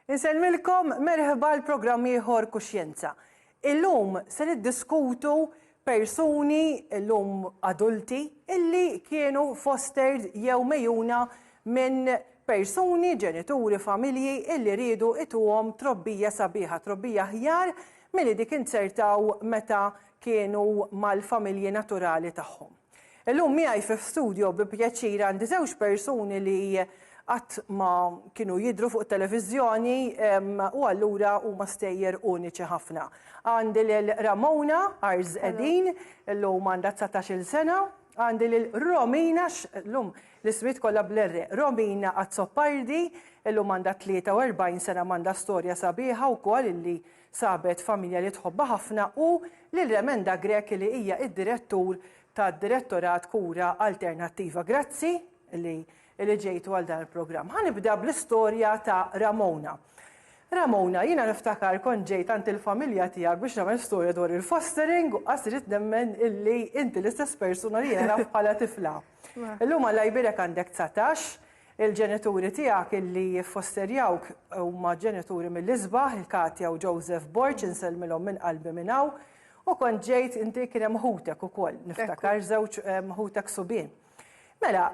Insellmilkom merħba l-programm ieħor Kuxjenza. Illum se niddiskutu persuni illum adulti illi kienu fostered jew megħjuna minn persuni, ġenituri, familji illi riedu ituhom trobbija sabiħa, trobbija aħjar milli dik inzertaw meta kienu mal-familji naturali tagħhom. Illum miegħi fi studio bi pjaċir għandi żewġ persuni li qatt ma kienu jidhru fuq it-televiżjoni u allura huma stejjer uniċi ħafna. Għandi lil Ramona Arz Edin, illum għandha dsatax-il sena, għandi lil Romina, llum l-ismijiet kollha bl-R, Romina Azzopardi, illum għandha 43 sena m'għandha storja sabiħa wkoll illi Sabet familja li tħobbha ħafna u lil Remenda Grech li hija id-Direttur tad-Direttorat Kura Alternattiva. Grazzi li li ġejtu għal dan il-programm. Ħa nibda bl-istorja ta' Ramona. Ramona, jiena niftakar kont ġejt għand il-familja tiegħek biex nagħmel storja dwar il-fostering u qas irrid nemmen illi inti l-istess persuna li jiena naf bħala tifla. Illum Alla jbierek għandek dsatax Il-ġenituri tiegħek illi jiffosterjawk huma ġenituri mill-isbaħ, il-Katja u Joseph Borg, insellmilhom minn qalbi minn hawn. U kont ġejt, inti kien hemm ħutek ukoll, niftakar, żewġ ħutek subien. Mela,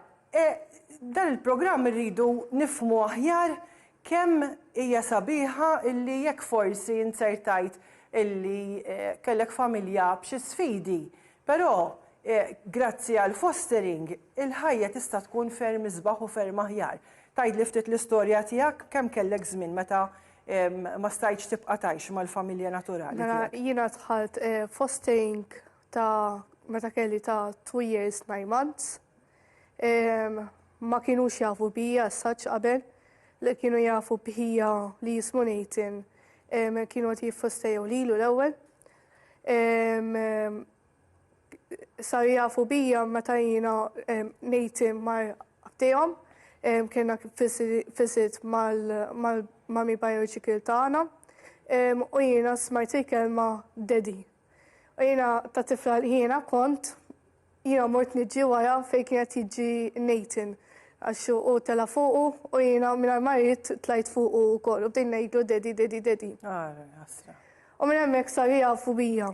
dan il-programm irridu nifhmu aħjar kemm hija sabiħa illi jekk forsi inzertajt illi kellek familja b'xi sfidi, però Grazzi għal fostering, il-ħajja tista' tkun ferm isbaħ u ferm aħjar. Tgħidli ftit l-istorja tiegħek, kemm kellek żmien meta ma stajtx tibqa' tgħix mal-familja naturali tiegħek? Mela jiena dħalt fostering ta' meta kelli ta' two years, nine months. Ma kienux jafu bija as such qabel, li kienu jafu b'ħija li jismu Nathan kienu qed jiffostejaw lilu l-ewwel. saru jafu bija meta jiena nejti mar għabtijom, kienna fisit mal-mami biological taħna, u jiena smajt il-kelma daddy. U jiena ta' tifla li jiena kont, jiena mort nġi wara fej kienet jġi nejtin, għax u tela fuqu u jiena minna marit tlajt fuqu u kol, u bdejn nejdu daddy, daddy, daddy. U minna mek saru jafu bija.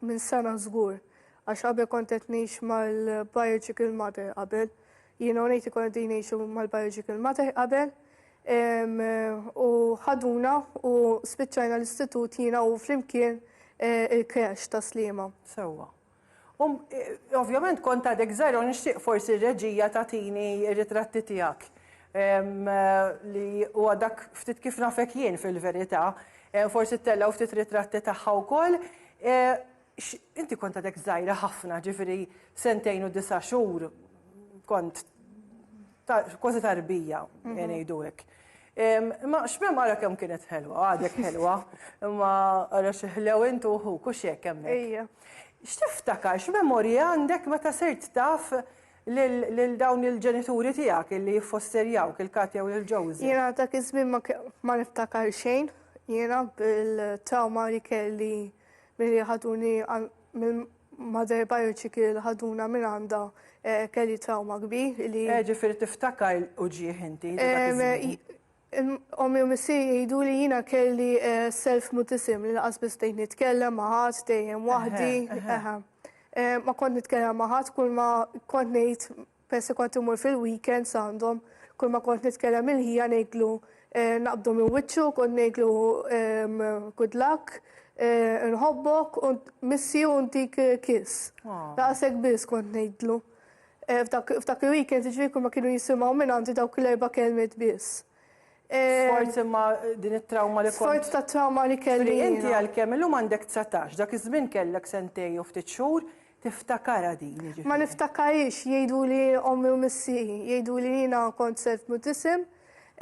Minn sena żgur, għax qabel kont qed ngħix mal-biological mother qabel. Jiena u Nathan konna qegħdin ngħixu mal-biological mother qabel. U ħaduna u spiċċajna l-istitut jiena u flimkien eh, il-kresh ta' Sliema. Sewwa. Um, eh, ovvjament kont għadek żgħira u nixtieq forsi r-reġija tagħtini r-ritratti tiegħek eh, li huwa dak ftit kif nafek jien fil-verità. Forsi ttellgħu ftit ritratti tagħha wkoll. Inti kont għadek żgħira ħafna, ġifieri sentejn u disa' xhur kont kważi tarbija ngħidu hekk. Imma x'mem ara kemm kienet ħelwa, għadek ħelwa, imma ara xi ħlew int u ħuk u x'hekk hemmhekk. X'tiftakar, x'memorji għandek meta sirt taf lil dawn il-ġenituri tiegħek illi jiffosterjawk, il-Katja u lil Joseph? Jiena dak iż-żmien ma niftakar xejn, jiena bil-trawma li kelli milli ħaduni mill-mother biological li ħaduna minn għandha eh, kelli trawma kbir li. Eh, ġifieri tiftakar uġieħ inti dak iż-żmien? Ommi u missieri jgħiduli jiena kelli self mutism li lanqas biss bdejt nitkellem ma' ħadd dejjem waħdi. Ma kont nitkellem ma' ħadd kull ma kont ngħid peress kont immur fil-weekends għandhom kull ma kont nitkellem il-ħija ngħidlu naqbdu minn wiċċu kont ngħidlu good luck, inħobbok, missi u ntik kiss. Daqshekk biss kont ngħidlu. F'dak il-weekend ġifieri ma kienu jisimgħu minn għandi dawk l-erba' kelmiet biss. Sforz imma din it-trawma li kont. Sforz ta' trawma li kelli. Inti għalkemm illum għandek 19, dak iż-żmien kellek sentejn u ftit xhur, tiftakarha din jiġifieri. Ma niftakarhiex, jgħiduli ommi u missieri, jgħiduli jiena kont self mutisim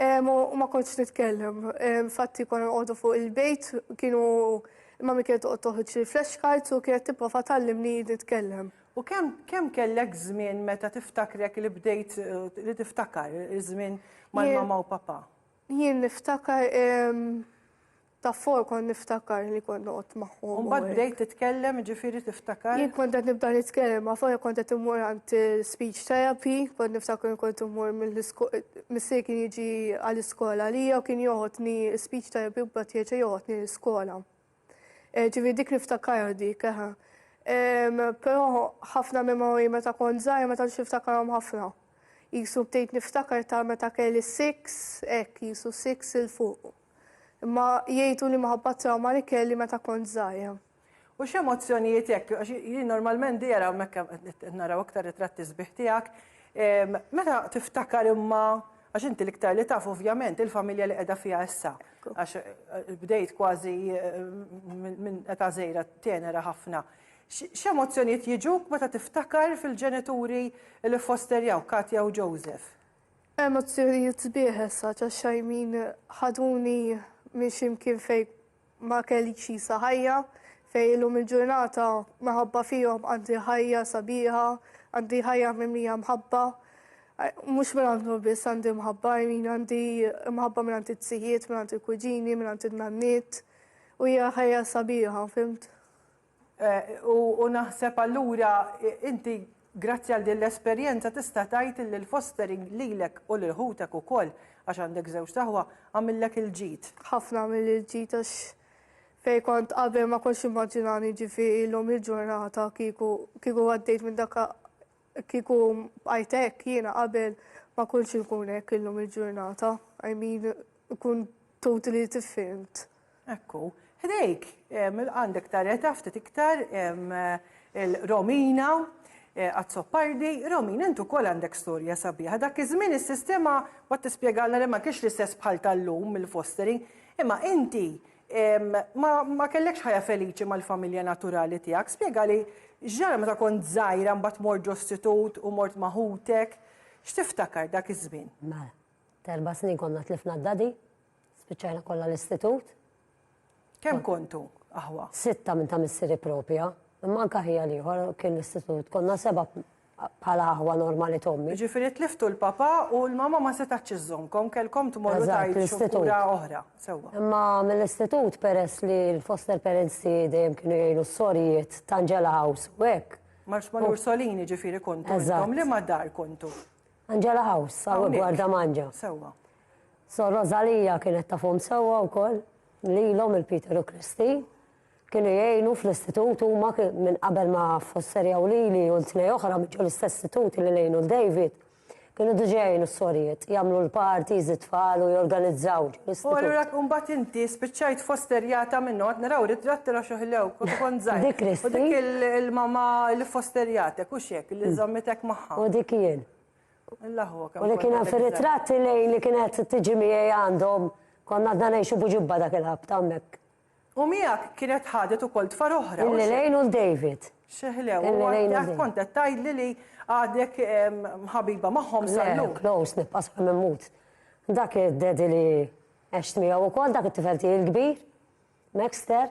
u ma kontx nitkellem. Infatti konna noqogħdu fuq il-bejt, kienu mami kienet toqgħod toħroġ li flashcards u kienet tipprova tgħallimni nitkellem. U kemm kemm kellek żmien meta tiftakrek li bdejt li tiftakar iż-żmien mal-mama u papa? Jien niftakar ta' fuq kont niftakar li kont noqgħod magħhom. Mbagħad bdejt titkellem, ġifieri tiftakar? Jien kont qed nibda nitkellem ma' fuq kont qed immur għand speech therapy, kont niftakar kont immur missier kien jiġi għall-iskola għalija u kien joħodni speech therapy u mbagħad jerġa' joħodni l-iskola. Eh, ġivi dik niftakarha dik, eħe. Però ħafna memori meta kont żgħir meta niftakarhom ħafna. Jisu btejt niftakar ta' meta kelli six, hekk jisu six il fuq. Imma jgħidu li maħabba trauma li kelli meta kont żgħir. U x'emozzjonijiet hekk, għax jien normalment dira mekka naraw aktar ritratti sbieħ tiegħek, meta tiftakar imma Għax inti l-iktar li taf ovvjament il-familja li qiegħda fiha issa. Għax bdejt kważi minn età żgħira tenera ħafna. X'emozzjonijiet jiġuk meta tiftakar fil-ġenituri li ffosterjawk, Katja u Joseph? Emozzjonijiet sbieħ issa għax Xajmin ħaduni minn xi mkien fejn Ma kellix jisa ħajja fejn illum il-ġurnata minħabba fihom għandi ħajja sabiħa, għandi ħajja mimlija mħabba. Mhux minn għandhom biss għandi mħabba, min għandi mħabba minn għandi t-sijiet, minn għandi kuġini, minn għandi n-nanniet. U hija ħajja sabiħa, fimt? U naħseb allura inti grazzi għal din l-esperjenza tista' tgħid li l-fostering lilek u lil ħutek ukoll, għax għandek żewġt aħwa, għamillek il-ġid. Ħafna għamilli l-ġid għax fejn kont qabel ma kontx nimmaġinani ġifi illum il-ġurnata kieku kieku għaddejt minn dak Kieku bqajt hekk jiena qabel ma kontx inkun hekk illum il-ġurnata. I mean, ikun totally different. Ekku. Ħdejk għandek tareta ftit iktar il-Romina Azzopardi. Romina, int ukoll għandek storja sabiħa. Dak iż-żmien is-sistema, waqt tispjegalna li ma kienx l-istess bħal tal-lum mill-fostering, imma inti Ma kellekx ħajja feliċi mal-familja naturali tiegħek. Spjegali x'ġara meta kont żgħira mbagħad mort ġo stitut u mort ma' ħutek. X'tiftakar dak iż-żmien? Mela, terba' snin konna tlifna d-dadi, spiċċajna kollha l-istitut. Kemm kontu aħwa? Sitta minn ta' missieri propja, imma anke ħija l-ieħor kien l-istitut. Konna seba' bħala aħwa normali t'ommi. Jiġifieri tliftu l-papà u l-mamà ma setgħetx iżżommkom, kellkom tmorru tgħixu f'kura oħra. Sewwa. Imma mill-istitut peress li l-foster parents tiegħi dejjem kienu jgħinu s-sorijiet ta' Angela House u hekk. Marx ma' l-Ursolini ġifieri kontu intom, liema dar kontu? Angela House, hawn gwarda manġa. Sewwa. Sor Rosalija kienet tafhom sewwa wkoll, lilhom il-Peter u Kristi. Kienu jgħinu fl-istitut huma minn qabel ma fosserjaw lili u 'l tnej oħra minn ġol-istess istitut li għinu 'l David. Kienu diġa jgħinu s-sorijiet, jagħmlu l-parties, it-tfal u jorganizzaw ġol-istitut. U allura mbagħad inti spiċċajt fosterjata minn noqgħod naraw ritratti l-għax uħilew kont kont żgħir. Dik Christy. U dik il-mamma li fosterjatek, hux hekk, li żammitek magħha. U dik jien. Alla hu kemm. U li kien hemm fir-ritratti lei li kienet tiġi miegħi għandhom, konna għadna ngħixu b'ġibba dak il-ħabta hemmhekk. U miegħek kienet ħadet ukoll tfal oħra. Illi lejn u David. Xeħlew, u għadek kont qed tgħidli li għadek ħabiba magħhom sallu. Close, nibqa' sa mimmut. Dak id-dedi li għext miegħu wkoll dak it-tifel tiegħi l-kbir, Maxter,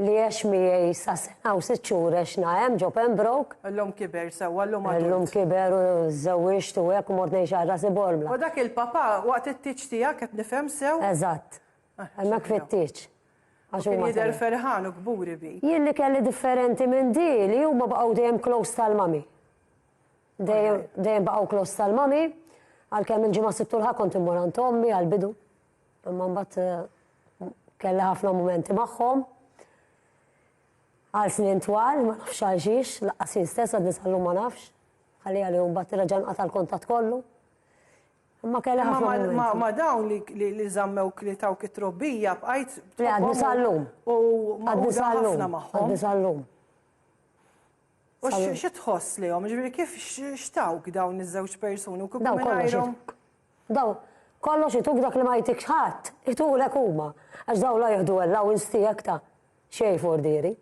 li għex miegħi sa sena u sitt xhur għex nahem ġo Pembroke. Illum kiber sewwa llum għadu. Illum kiber u żewwiġt u hekk u mort ngħix għal rasi bormla. U dak il-papa waqt it-tiġ tiegħek qed nifhem sew? Eżatt. Hemmhekk fit-tieġ. Għax huma jidher ferħan u kburi bi. Jien li kelli differenti minn di li huma baqgħu dejjem close tal-mami. Dejjem baqgħu close tal-mami, għalkemm il-ġimgħa sittu l kont immur għand ommi għal-bidu. Imma mbagħad eh, kelli ħafna momenti magħhom. Għal snin twal, ma nafx għal xiex, laqqas jien stess għad nisallum ma nafx. Għalli għalli mbagħad irraġan qata' l-kontat kollu. Imma kelli Imma ħafna ma- ma- momenti. ma dawn li, li, li żammewk li tawk it-trobbija bqajt Le, għadni tħobbhom sal-lum. u Għadni magħquda sal-lum. ħafna magħhom. Għadni sal-lum. U sal-lum. x- xi tħoss lihom? Ġifieri kif x- x'tawk dawn iż-żewġ persuni u kieku Daw kollox mingħajrhom ituk. Daw kollox ituk dak li ma jtikx ħadd. Itulek huma. Għax daw la jieħdu allowance tiegħek ta' xejn fordieri.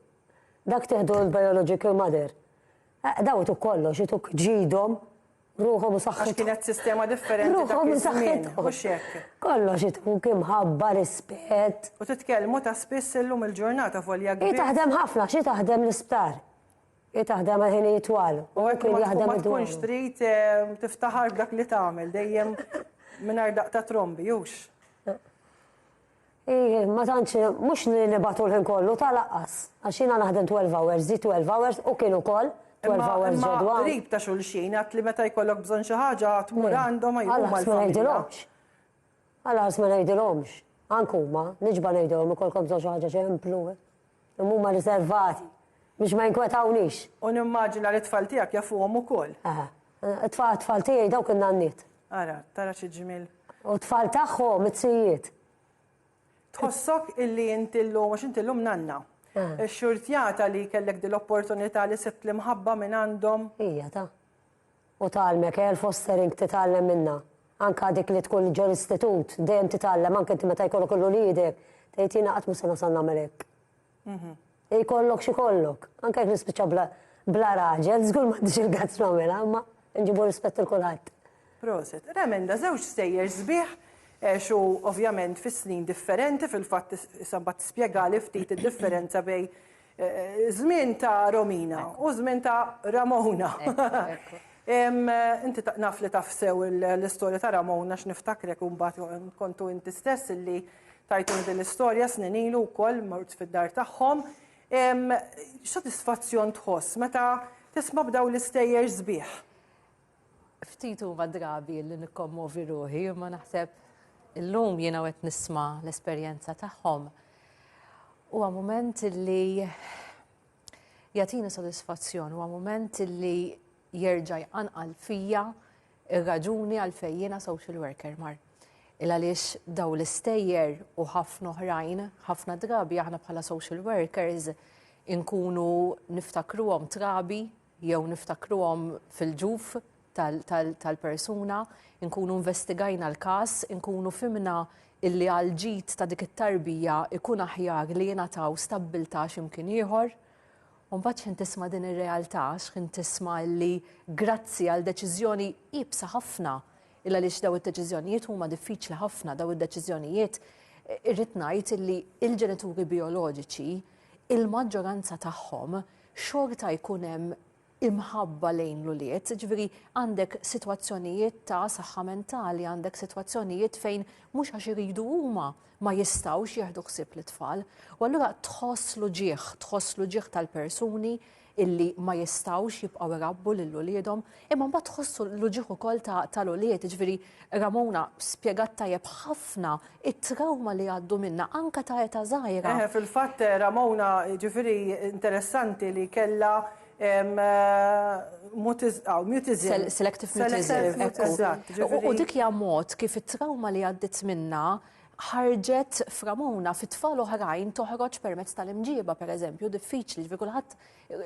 Dak tieħdu l-biological mother. Eh, Daw ituk kollox, ituk ġidhom, ruħhom u saħħithom. Għax kienet sistema differenti. Ruħhom u saħħithom. Mhux hekk. Kollox ituk imħabba, rispett. U titkellmu ta' spiss illum il-ġurnata volja kbir. Hi taħdem ħafna, xi taħdem l-isptar. Hi taħdem ħin jitwal. U hekk kien jaħdem id tkunx trid eh, tiftaħar b'dak li tagħmel dejjem mingħajr daqta trombi, jux. Hi, ma tantx, mhux li nibgħatu l-ħin kollu, ta' laqqas. Għax jiena naħdem 12 hours, zi 12 hours, u kien ukoll 12 hours ġodwa. Imma qrib ta' xulxin, għad li meta jkollok bżonn xi ħaġa tmur għandhom għajhuma l-familja. Għallas ma ngħidilhomx. Għallas ma ngħidilhomx. Anke huma, niġba ngħidilhom ikolkom bżonn xi ħaġa xemplu. Dawn huma riservati biex ma jinkwetawniex. U nimmaġina li t-tfal tiegħek jafuhom ukoll. Aha. It-tfal tiegħi dawk in-nanniet. Ara, tara xi ġmiel. U t-tfal tagħhom it-sijiet. Tħossok illi inti llum għax inti llum nanna. Xxurtjata li kellek din l-opportunità li sibt l-imħabba minn għandhom. Hija ta. U tgħallmek, Gail Foster ink titgħallem minnha. Anke dik li tkun ġo l-istitut, dejjem titgħallem anke inti meta jkollok il-uliedek, tgħid jiena qatt mhux se nasal nagħmel hekk. Ikollok x'ikollok. Anke jekk nispiċċa bla bla raġel, żgur m'għandix il-guts nagħmilha, imma nġibu rispett lil kulħadd. Proset. Remenda, żewġ stejjer sbieħ, għex u ovvjament fi snin differenti, fil-fatt issa mbagħad tispjegali ftit id-differenza bejn Żmien ta' Romina u żmien ta' Ramona. Inti naf li taf sew l-istorja ta' Ramona għax niftakrek u mbagħad kontu inti stess illi tajtuni din l-istorja snin ilu wkoll mort fid-dar tagħhom. X'sodisfazzjon tħoss meta tisma' b'dawn l-istejjer sbieħ? Ftit huma drabi li nikkommovi ruħi, imma naħseb illum jiena qed nisma' l-esperjenza tagħhom. Huwa mument li jagħtini sodisfazzjon, huwa mument li jerġa' jqanqal fija ir-raġuni għalfejn jiena social worker mar. Il għaliex daw l-istejjer u ħafna oħrajn, ħafna drabi aħna bħala social workers inkunu niftakruhom trabi jew niftakruhom fil-ġuf tal-persuna, inkunu investigajna l-każ, inkunu fimna illi għal ġid ta' dik it-tarbija ikun aħjar li jingħataw stabbiltà x'imkien ieħor. Mbagħad x'ħin tisma' din ir-realtà, x'ħin tisma' illi grazzi għal deċiżjoni iebsa ħafna, il għaliex daw id-deċiżjonijiet huma diffiċli ħafna, daw id-deċiżjonijiet irrid ngħid illi il-ġenituri bioloġiċi il-maġġoranza tagħhom xorta jkun hemm imħabba lejn l-ulied, ġifieri għandek sitwazzjonijiet ta' saħħa mentali, għandek sitwazzjonijiet fejn mhux għax iridu huma ma jistgħux jieħdu ħsieb l-tfal. U allura tħoss l-uġieħ, tħoss l-uġieħ tal-persuni illi ma jistgħux jibqgħu irabbu lil uliedhom, Imma mbagħad tħossu l-uġigħ ukoll ta' tal-ulied, jiġifieri Ramona spjegat tajjeb ħafna it-trawma li għaddu minnha anke ta' età żgħira. Eħe, fil-fatt Ramona jiġifieri interessanti li kellha mutism. Selective mutism, ekku. U dik hija mod kif it-trawma li għaddiet minnha ħarġet f'Ramona, fit-tfal oħrajn toħroġ permezz tal-imġieba pereżempju, diffiċli, jiġifieri kulħadd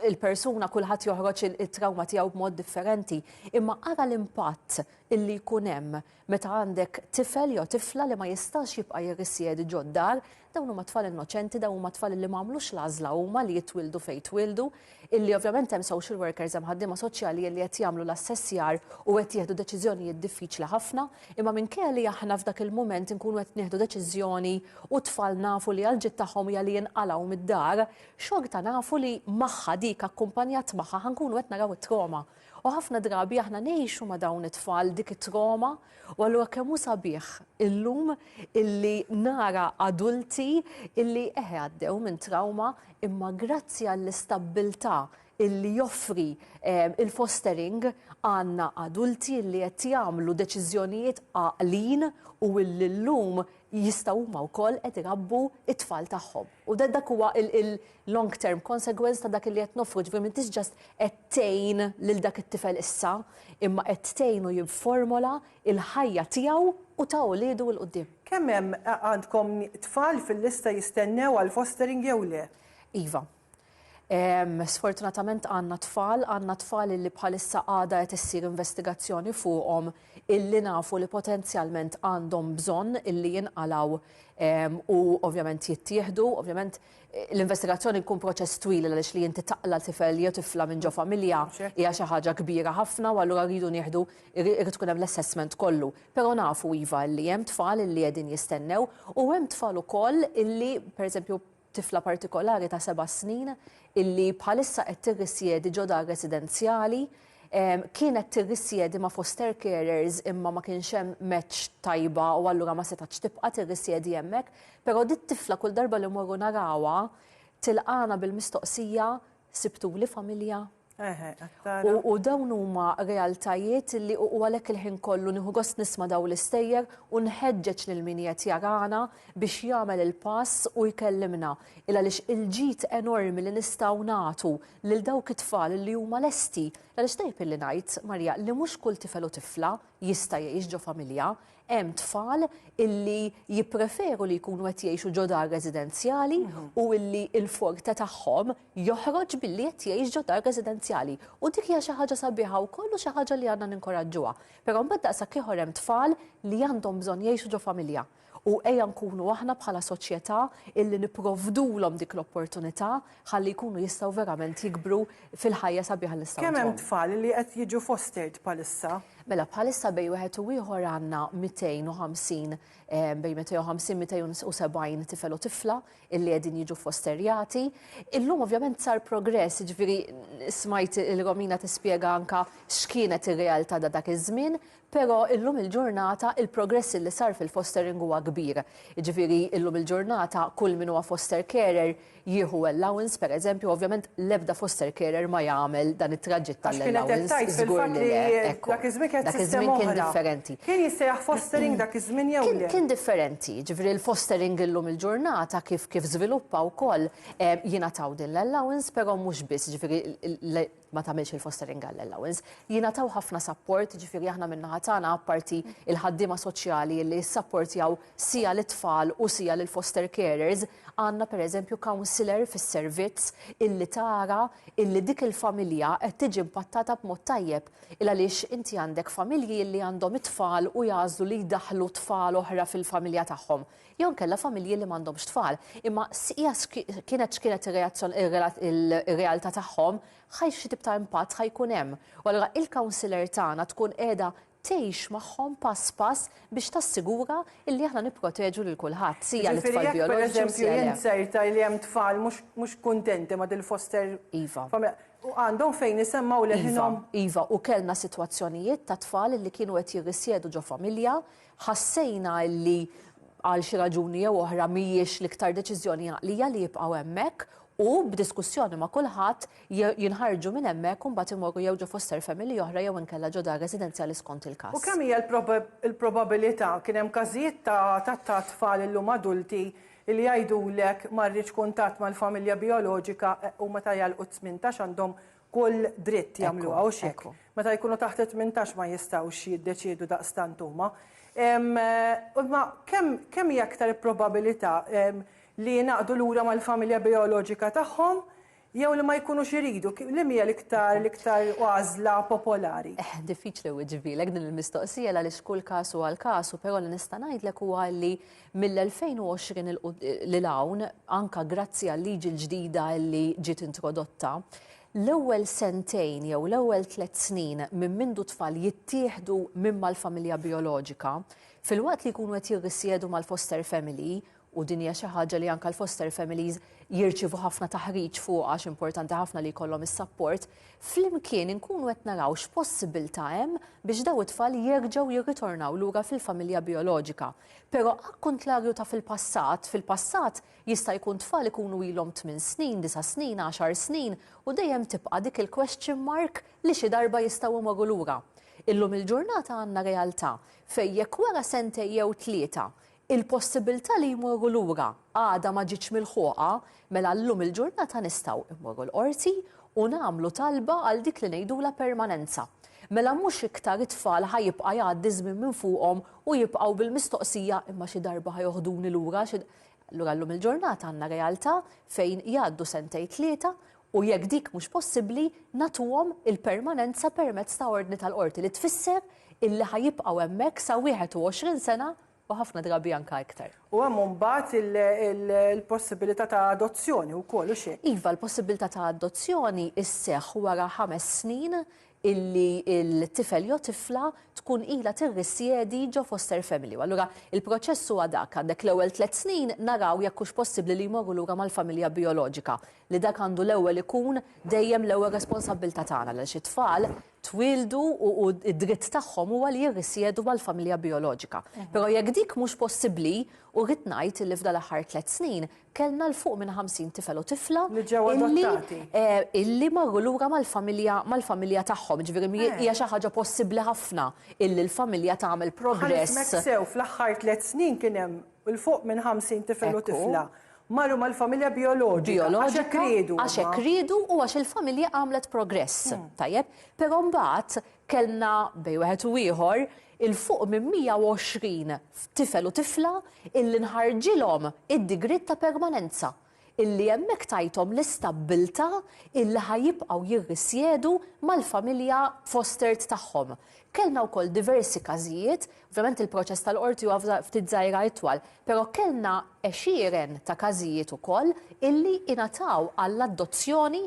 il-persuna kulħadd joħroġ it-trawma tiegħu b'mod differenti, imma ara l-impatt illi jkun hemm meta għandek tifel jew tifla li ma jistax jibqa' jirrisjedi ġod dar, dawn huma tfal innoċenti, dawn huma tfal li ma għamlux l-għażla huma li jitwildu fejn twildu, illi ovvjament hemm social workers hemm ħaddiema soċjali li qed jagħmlu l-assessjar u qed jieħdu deċiżjonijiet diffiċli ħafna, imma minkejja li aħna f'dak il-mument inkunu qed nieħdu deċiżjoni u t-tfal nafu li għall-ġid tagħhom hija li jinqalgħu mid-dar, xorta nafu li magħha dik akkumpanjat magħha ħa nkunu qed naraw it-trauma. U ħafna drabi aħna ngħixu ma' dawn it-tfal dik it-trauma u allura kemm hu sabiħ illum illi nara adulti illi eħe għaddew minn trauma imma grazzi għall-istabbiltà illi joffri ehm, il-fostering għanna adulti illi qed jagħmlu deċiżjonijiet għaqlin u illum jistgħu huma wkoll qed irabbu t-tfal tagħhom. U dak huwa il-long term consequence ta' dak li qed nofru, ġifieri m'intix ġast qed tgħin lil dak it-tifel issa, imma qed tgħinu jifformola l-ħajja tiegħu u ta' uliedu 'l quddiem. Kemm hemm għandkom tfal fil-lista jistennew għall-fostering jew le? Iva. Sfortunatament għandna tfal, għandna tfal illi bħalissa għada qed issir investigazzjoni fuqhom illi nafu li potenzjalment għandhom bżonn illi jinqalaw u ovvjament jittieħdu, ovvjament l-investigazzjoni jkun proċess twil għaliex li inti taqla tifel jew tifla minn ġo familja hija xi ħaġa kbira ħafna u allura rridu nieħdu irid tkun hemm l-assessment kollu. Però nafu iva li hemm tfal illi qegħdin jistennew u hemm tfal ukoll illi pereżempju tifla partikolari ta' seba' snin illi bħalissa qed tirrisjedi ġo dar residenzjali. Kienet tirrisjedi ma' foster carers imma ma kienx hemm match tajba u allura ma setgħetx tibqa' tirrisjedi hemmhekk. Però dit-tifla kull darba li mmorru narawha tilqagħna bil-mistoqsija Sibtuli familja? Eħe, għattara. U, u dawn huma realtajiet li u għalhekk il-ħin kollu nieħu gost nisma' daw l-istejjer u nħeġġeġ lil min qed jarana biex jagħmel il-pass u jkellimna. Il għaliex il-ġid enormi li nistgħu nagħtu lil dawk it-tfal li huma lesti. Għaliex tajb illi ngħid, Marija, li mhux kull tifel u tifla jista' jgħix ġo familja, hemm tfal illi jippreferu li jkunu qed jgħixu ġo dar residenzjali mhm. u illi il-forte tagħhom joħroġ billi qed jgħix ġo dar residenzjali. U dik hija xi ħaġa sabiħa wkoll u xi ħaġa li għandna ninkoraġġuha. Però mbagħad daqshekk ieħor hemm tfal li għandhom bżonn jgħixu ġo familja. U ejja nkunu aħna bħala soċjetà illi nipprovdulhom dik l-opportunità ħalli jkunu jistgħu verament jikbru fil-ħajja sabiħa li nistgħu ntuhom. Kemm hemm tfal li qed jiġu fostered bħalissa? Mela bħalissa bejn wieħed u ieħor għandna 250 bejn 250, 270 tifel u tifla illi qegħdin jiġu fosterjati. Illum ovvjament sar progress, jiġifieri smajt il-Romina tispjega anke x'kienet ir-realtà ta' dak iż-żmien, Però illum il-ġurnata il-progress li sar fil-fostering huwa kbir. Jiġifieri illum il-ġurnata kull min huwa foster carer jieħu allowance pereżempju, ovvjament l-ebda foster carer ma jagħmel dan it-traġitt tal-allowance, żgur li le, ekku. Dak iż-żmien kienet sistema oħra. Dak iż-żmien kien differenti. Kien jissejjaħ fostering dak iż-żmien jew le? Kien differenti, jiġifieri l-fostering illum il-ġurnata kif żviluppa wkoll jingħataw din l-allowance però mhux biss, jiġifieri ma tagħmilx il-fostering għall allowance. Jingħataw ħafna sapport, ġifieri aħna min-naħa tagħna apparti il-ħaddiema soċjali li jissapportjaw sija lit-tfal u sija lill-foster carers, għandna pereżempju counsellor fis-servizz illi tara illi dik il-familja qed tiġi impattata b'mod tajjeb. Il għaliex inti għandek familji li għandhom it-tfal u jagħżlu li jdaħħlu tfal oħra fil-familja tagħhom. jew inkella familji li m'għandhomx tfal. Imma hija kienet x'kienet ir-realtà tagħhom, ħaj xi tip ta' impatt ħaj jkun hemm. U allura il-counselor tagħna tkun qiegħda tgħix magħhom pass pass biex tassigura illi aħna nipproteġu lil kulħadd, sija lit-tfal bioloġiċi sija le. Jiġifieri jekk pereżempju jien sejrta li hemm tfal mhux kuntenti ma' dil-foster iva. familja, għandhom fejn isemmgħu leħinhom? Iva, iva, u kellna sitwazzjonijiet ta' tfal li kienu qed jirrisjedu ġo familja, Ħassejna li għal xi raġuni jew oħra mhijiex l-iktar deċiżjoni għaqlija li jibqgħu hemmhekk u b'diskussjoni ma' kulħadd jinħarġu minn hemmhekk u mbagħad imorru jew ġo foster family oħra jew inkella ġo dar residenzjali skont il-każ. U kemm hija l-probabilità, kien hemm każijiet ta' tfal illum adulti li jgħidulek ma rridx kuntatt mal-familja bijoloġika u meta jagħlqu t-tmintax għandhom kull dritt jagħmluha, hux hekk? Meta jkunu taħt it-tmintax ma jistgħux jiddeċiedu daqstant huma. Imma kemm hija aktar il-probabilità li jingħaqdu lura mal-familja bijoloġika tagħhom jew li ma jkunux iridu? Liem hija l-iktar l-iktar għażla popolari? Diffiċli nwiġibilek din il-mistoqsija għaliex kull każ huwa għal każu, però li nista' ngħidlek huwa li Mill-2020 'l hawn, anke grazzi għal-liġi l-ġdida li ġiet introdotta, l-ewwel sentejn jew l-ewwel tliet snin minn mindu t-tfal jittieħdu minn mal-familja bijoloġika, filwaqt li jkunu qed jirrisjedu mal-foster family, u din hija xi ħaġa li anke l-foster families jirċievu ħafna taħriġ fuqha għax importanti ħafna li jkollhom is-sapport, flimkien inkunu qed naraw x'possibbiltà hemm biex dawn it-tfal jerġgħu jirritornaw lura fil-familja bijoloġika. Pero akkuntlarju ta' fil-passat, fil-passat jista' jkun tfal ikunu ilhom tmien snin, disa' snin, għaxar snin u dejjem tibqa' dik il-question mark li xi darba jistgħu imorru lura. Illum il-ġurnata għandna realtà fejn jekk wara sentejn jew tlieta il-possibilità li jmorru lura għadha ma ġietx milħuqa, Mela llum il-ġurnata nistgħu mmorru l-Qorti u nagħmlu talba għal dik li ngħidulha permanenza. Mela mhux iktar it-tfal ħa jibqa' jgħaddi ż-żmien minn fuqhom u jibqgħu bil-mistoqsija imma xi darba ħa joħduni lura xi Allura llum il-ġurnata għandna realtà fejn jgħaddu sentejn tlieta u jekk dik mhux possibbli nagħtuhom il-permanenza permezz ta' ordni tal-Qorti li tfisser illi ħa jibqgħu hemmhekk sa 21 sena u ħafna drabi anke iktar. U hemm imbagħad il-possibilità ta' adozzjoni wkoll, hux hekk? Iva, l-possibilità ta' adozzjoni sseħħ wara ħames snin illi l-tifel jew tifla tkun ilha tirrisjedi ġo foster family. U allura il-proċess huwa dak, għandek l-ewwel tliet snin naraw jekk hux possibbli li jmorru lura mal-familja bijoloġika, li dak għandu l-ewwel ikun dejjem l-ewwel responsabbiltà tagħna għaliex it-tfal twieldu u u d-dritt tagħhom huwa li jirrisjedu mal-familja bijoloġika. Però jekk dik mhux possibbli, u rrid ngħid illi f'dan l-aħħar tliet snin kellna 'l fuq minn 50 tifel u tifla Li ġew illi adottati. eh, illi marru lura mal-familja mal-familja tagħhom. Jiġifieri mi Eh. hija xi ħaġa possibbli ħafna illi l-familja tagħmel Ħa nifhmek progress. sew, fl-aħħar tliet snin kien hemm 'l fuq minn 50 tifel u Ekku. tifla. Marru mal-familja bijoloġika għax hekk riedu. Għax hekk riedu u għax il-familja għamlet progress. Tajjeb, però mbagħad kellna bej wieħed u ieħor il-fuq minn 120 tifel u tifla illi nħarġilhom id-digriet ta' permanenza illi hemmhekk tajthom l-istabbiltà illi ħa jibqgħu jirrisjedu mal-familja fostered tagħhom. Kellna wkoll diversi każijiet Ovvjament il-proċess tal-Qorti huwa ftit żgħira itwal, però kellna għexieren ta' każijiet ukoll illi ingħataw għall-adozzjoni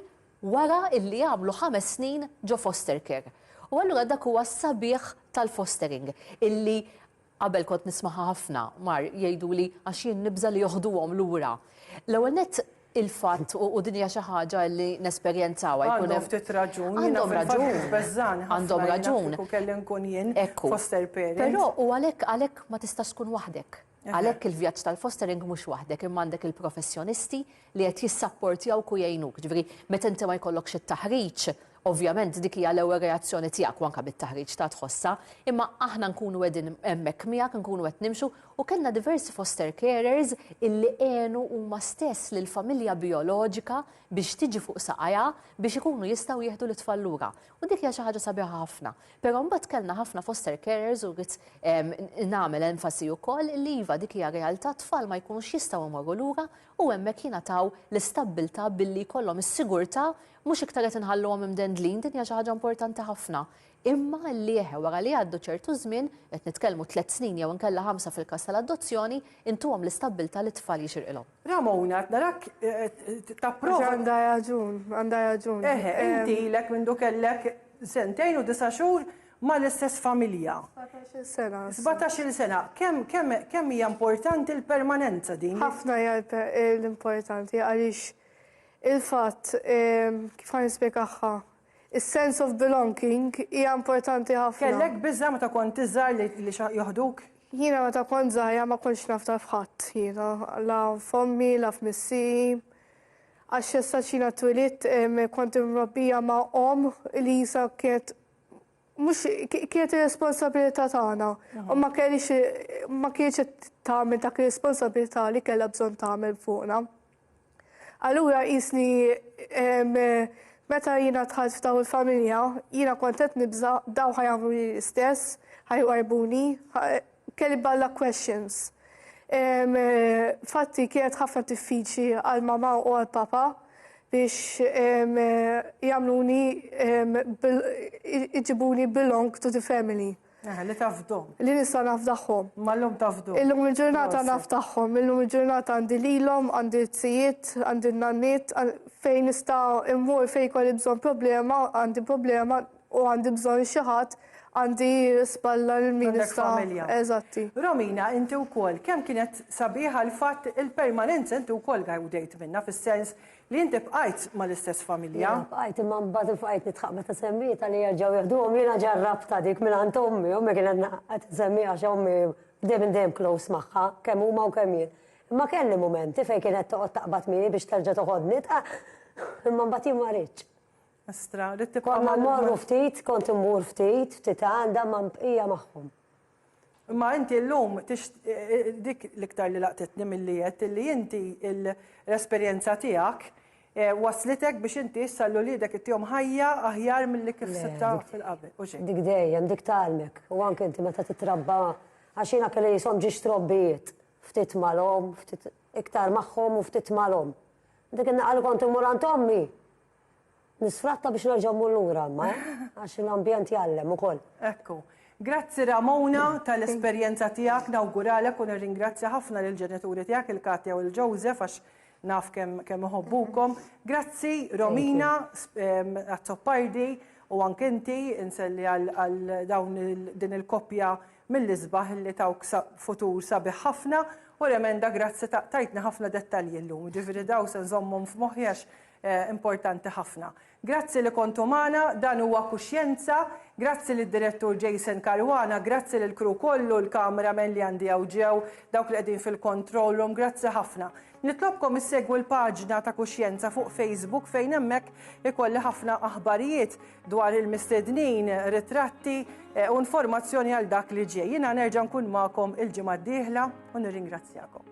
wara illi għamlu ħames snin ġo foster care. U allura dak huwa s-sabiħ tal-fostering illi qabel kont nismaha ħafna mar jgħiduli għax jien nibża' li joħduhom lura. L-ewwel nett il-fatt, u din hija xi ħaġa li nesperjenzawha, jkun hemm. Għandhom ftit raġun. Għandhom raġun. Jbeżżagħni ħafna. Għandhom raġun. Kieku kelli nkun jien foster parent. Però u għalhekk għalhekk ma tistax tkun waħdek. Għalhekk il-vjaġġ tal-fostering mhux waħdek imma għandek il-professjonisti li qed jissapportjawk u jgħinuk. Ġifieri meta inti ma jkollokx it-taħriġ Ovvjament dik hija l-ewwel reazzjoni tiegħek u anke bit-taħriġ ta' tħossha, imma aħna nkunu qegħdin hemmhekk miegħek, nkunu qed nimxu u kellna diversi foster carers illi għenu huma stess lill-familja bijoloġika biex tiġi fuq saqajha biex ikunu jistgħu jieħdu lit-tfal lura. U dik hija xi ħaġa sabiħa ħafna. Però mbagħad kellna ħafna foster carers u rrid nagħmel enfasi wkoll li iva dik hija realtà t-tfal ma jkunux jistgħu jmorru lura u hemmhekk jingħataw l-istabbiltà billi jkollhom is-sigurtà Mhux iktar qed inħalluhom imdendlin, din hija xi ħaġa importanti ħafna. Imma l-lieħ wara li jgħaddu ċertu żmien, qed nitkellmu tliet snin jew inkella ħamsa fil-każ tal-adozzjoni, intuhom l-istabbiltà li t-tfal jixirqilhom. Ramona, qed narak tapprova. Għax għandha raġun, għandha raġun. Eħe, inti ilek mindu kellek sentejn u disa' xhur mal-istess familja. Sbatax-il sena. Sbatax-il sena. Kemm kemm kemm hija importanti l-permanenza din? Ħafna hija l-importanti għaliex Il-fatt, kif ħa nispjegahha, is-sense of belonging hija importanti ħafna. Kellek biża' meta kont iżgħar li joħduk? Jiena meta kont żgħira ma kontx nafda f'ħadd jiena, la f'ommi, la f'missieri. Għax sax jiena twilidt kont imrobbija ma' omm li jisha kienet mhux kienet ir-responsabilità tagħna u ma kellix ma kienx qed tagħmel dak ir-responsabilità li kellha bżonn tagħmel fuqna. Allura qisni meta jiena dħalt f'daw il-familja, jiena kont qed nibża' daw ħa jagħmluli l-istess, ħa jwarrbuni, kelli balla questions. Fatti kienet ħafna diffiċli għal mama u għal papa biex jagħmluni iġibuni belong to the family. Eh, li tafdom. Li nista nafdaħħom. Mallum tafdom. Illum il-ġurnata naftaħħom, illum il-ġurnata għandi lilom, għandi t-sijiet, għandi n-nanniet, fejn nista immur fejn kolli bżon problema, għandi problema u għandi bżon xaħat għandi spalla l-minista. Eżatti. Romina, inti u kol, kem kienet sabiħa l-fat il-permanenza inti u kol għajdejt minna, fil-sens Li inti bqajt mal-istess familja. Jiena bqajt imma mbagħad bqajt nitħaq meta semmietha li jerġgħu jieħduhom jiena ġarrabtha dik minn għand ommi, ommi kienet qed insemmiha għax ommi dejjem dejjem close magħha, kemm huma u kemm jien. Imma kelli mumenti fejn kienet toqgħod taqbad miegħi biex terġa' toħodni, imma mbagħad jien ma ridtx. Konna mmorru ftit, kont immur ftit, ftit għandha, imma bqija magħhom. Imma inti llum dik l-iktar li laqtitni milli għedt illi inti l-esperjenza tiegħek wasslitek biex inti issa lil uliedek ittihom ħajja aħjar milli kif sibtha fil-qabel. U x'inhi? Dik dejjem, dik tgħallmek. U anke inti meta titrabba, għax jiena kelli jisom ġiex trobbijiet, ftit mal-omm, ftit iktar magħhom u ftit mal-omm. Dik in-naqa' li kont immur għand ommi, Nisfratta biex nerġa' mmur lura imma, eh? Għax l-ambjent jgħallem ukoll. Ekku. Grazzi Ramona tal-esperjenza tiegħek, nawguralek u nirringrazzja ħafna lill-ġenituri tiegħek il-Katja u l-Joseph għax naf kemm iħobbukom. Grazzi Romina ehm, għat-Toppardi u anke inti inselli għal dawn din il-koppja mill-isbaħ li tawk futur sabiħ ħafna u remenda grazzi tajtna ħafna dettalji llum. Ġifieri daw se nżommhom f'moħħi għax Importanti ħafna. Grazzi li kontu magħna, dan huwa Kuxjenza. Grazzi lid-Direttur Jason Caruana, grazzi lill-crew kollu, l-camera men li għandi hawn ġew, dawk li qegħdin fil-control room, grazzi ħafna. Nitlobkom issegwu l-paġna ta' Kuxjenza fuq Facebook fejn hemmhekk ikolli ħafna aħbarijiet dwar il-mistednin, ritratti u informazzjoni għal dak li ġej. Jiena nerġa' nkun magħkom il-ġimgħa d-dieħla u nirringrazzjakom.